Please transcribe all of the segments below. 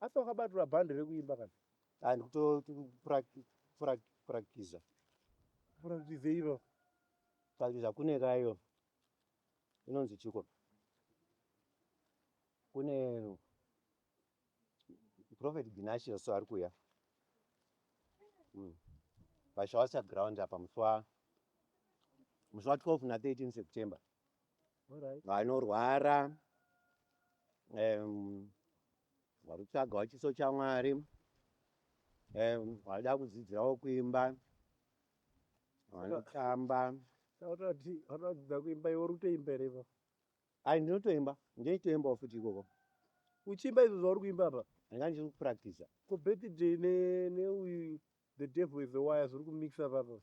Asi wakabatirwa bhandi rekuimba kana? Ah, ndikutopurakitiza. Purakitiza ivo. Purakitiza kune kayo. Inonzi chiko. Kune Prophet Ginashi also ari kuya. Mm. Pashawasa ground apa musi wa musi wa 12 na 13 September. All right. Vanorwara um, Vakutsvagawo chiso chaMwari. Vaida kudzidzirawo kuimba. Vanotamba. Vanodzidza kuimba iwe uri kutoimba here ipapo? Ai ndinotoimba. Ndinotoimbawo futi ikoko. Uchiimba izvo zvauri kuimba apa? Ndanga ndiri kupracticer. Ko birthday neuyu the devil is a wire zviri kumixer apapo.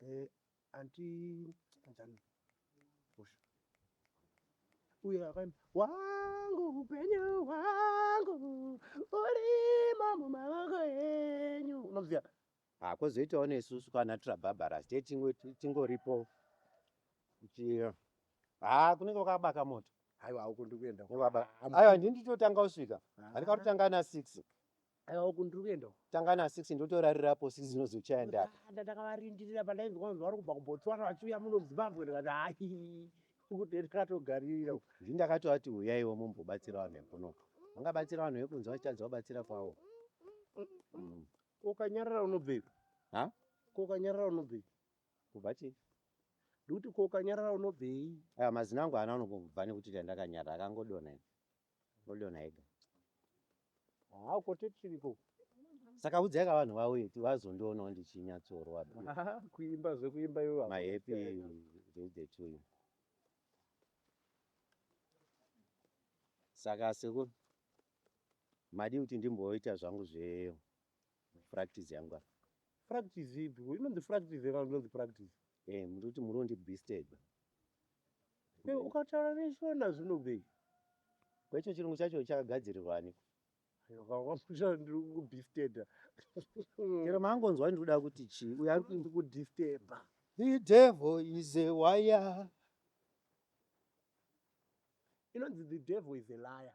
Eh, anti Anjani. Hosha. Uye akaimba wangu upenyu wangu urimo mumaoko enyu. Unoziva? Ah, kozoitawo nesusu kana tira Barbara ste tingo tingoripo. Ichi ah kunenge kwakabaka moto. Haiwa uko ndikuenda. Kunenge kwakabaka. Ayo handiti totanga usvika. Handikatotanga na 6. Aiwa uku ndiri kuenda uku. Tanga na 6 ndotorarira apo 6 dzinozochaya ndaka. Ndakaenda ndakavarindirira pandainzwa kunzi vari kubva kuBotswana vachiuya muno muZimbabwe ndikati hayi uku ndini ndakatogaririra uku. Ndini ndakatovati huyaiwo mumbobatsira vanhu vekuno. Vangabatsira vanhu vekunze vachitadza kubatsira kwavo. Mm. Ko ukanyarara unobvepi? Ha? Ko ukanyarara unobvepi? Kubva chii? Ndikuti ko ukanyarara unobvei? Aya mazino angu haana kunobva nekuti ndakanyarara akangodonha. Moliona ega. Haa ko tete tiriko. Saka udzai ka vanhu vauye kuti vazondionawo ndichinyatsorwa. Kuimba zvekuimba iwe. My happy birthday to you. Saka sekuru madi kuti ndimboita zvangu zve practice yangu. Practice ipi? Inonzi practice kana inonzi practice? Hey murikuti murondi bisteba. Hey ukataura neshona zvinobei. Kwecho chirungu chacho chakagadzirirwa aniko? Vakamusha ndiri kudisteba. Chero maangonzwa ndikuda kuti chii uyo ari kundi kudisteba. The devil is a wire. Inonzi the devil is a liar.